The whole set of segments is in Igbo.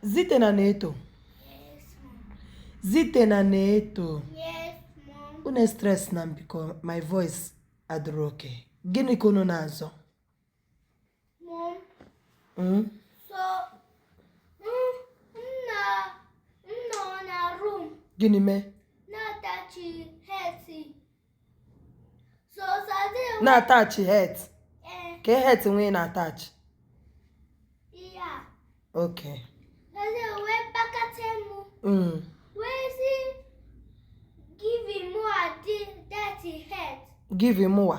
Zite na Neto Zite na Neto unu e stress na m biko my voice adịrọ okay gịnị ka unu na-azọ hmm? gịnị mee na-atachi het eh. ka het nwee na-atachi ok mm. give him more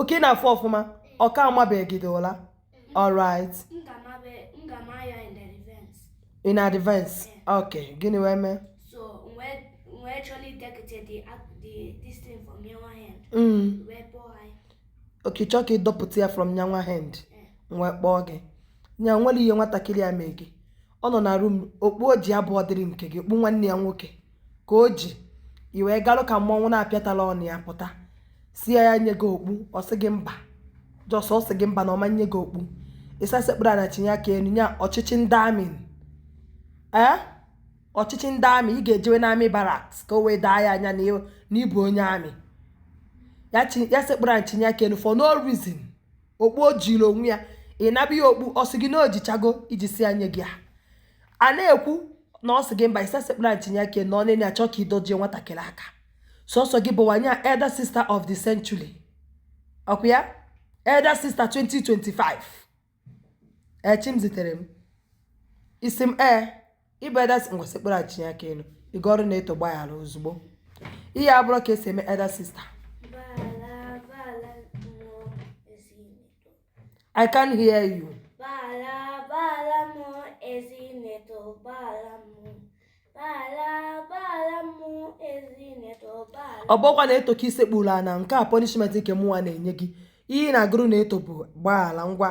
okay ị na-afụ ọfụma ọka amabeghị gị dị ụla alright in advance ok gịnị wee mee mm. ok chọọ ka ị dọpụta ya from nyanwa hand wee kpọọ gị nya nwere ihe nwatakịrị a mee gị ọ nọ na room okpu o ji abụrọ dịrị nke gị okpu nwanne ya nwoke ka o ji i wee garụ ka mmọnwụ na-apịa ụtalị nyapụta sị ya ya nye gị okpu ọ sị gị mba just ọ sị gị mba na ọ ma nye gị okpu ị sị ya sekpuru ana chinie aka enu nye ọchịchị ndị army ee ọchịchị ndị army ị ga-ejewe na army barracks ka o wee doo anyị anya na ị bụ onye army ya sekpuru ana chinie aka enu for no reason okpu o jiri onwe ya ị naba ya okpu ọ sị gị na o jichago i ji sị ya nye gị a a na-ekwu na ọ sị gị mba ị sị ya sekpulu ana chinie aka enu ọ na ị na-achọ ka ị dọjie nwatakịrị aka sọsọ gị bụwa nya elder sister of the century ọkwa ya elder sister 2025 Chimziterem ị sị m ee ị bụ elder sister ngwa sekpuru ana chinie aka enu ị gụọrụ Neto gbaghara ozugbo ihe a abụrọ ka e si eme elder sister I can't hear you. Gbaghala gbaghala m o ezi Neto gbaghala m o gbaghala gbaghala m o ezi Neto gbaghala. Ọ bụkwa Neto ka i sekpuuru ana nke a punishment nke mụnwa na-enye gị ihe ị na-agụrụ Neto bụ gbaghara ngwa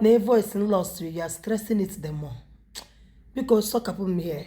na voice lost you are stressing it the more biko sọkapụ m here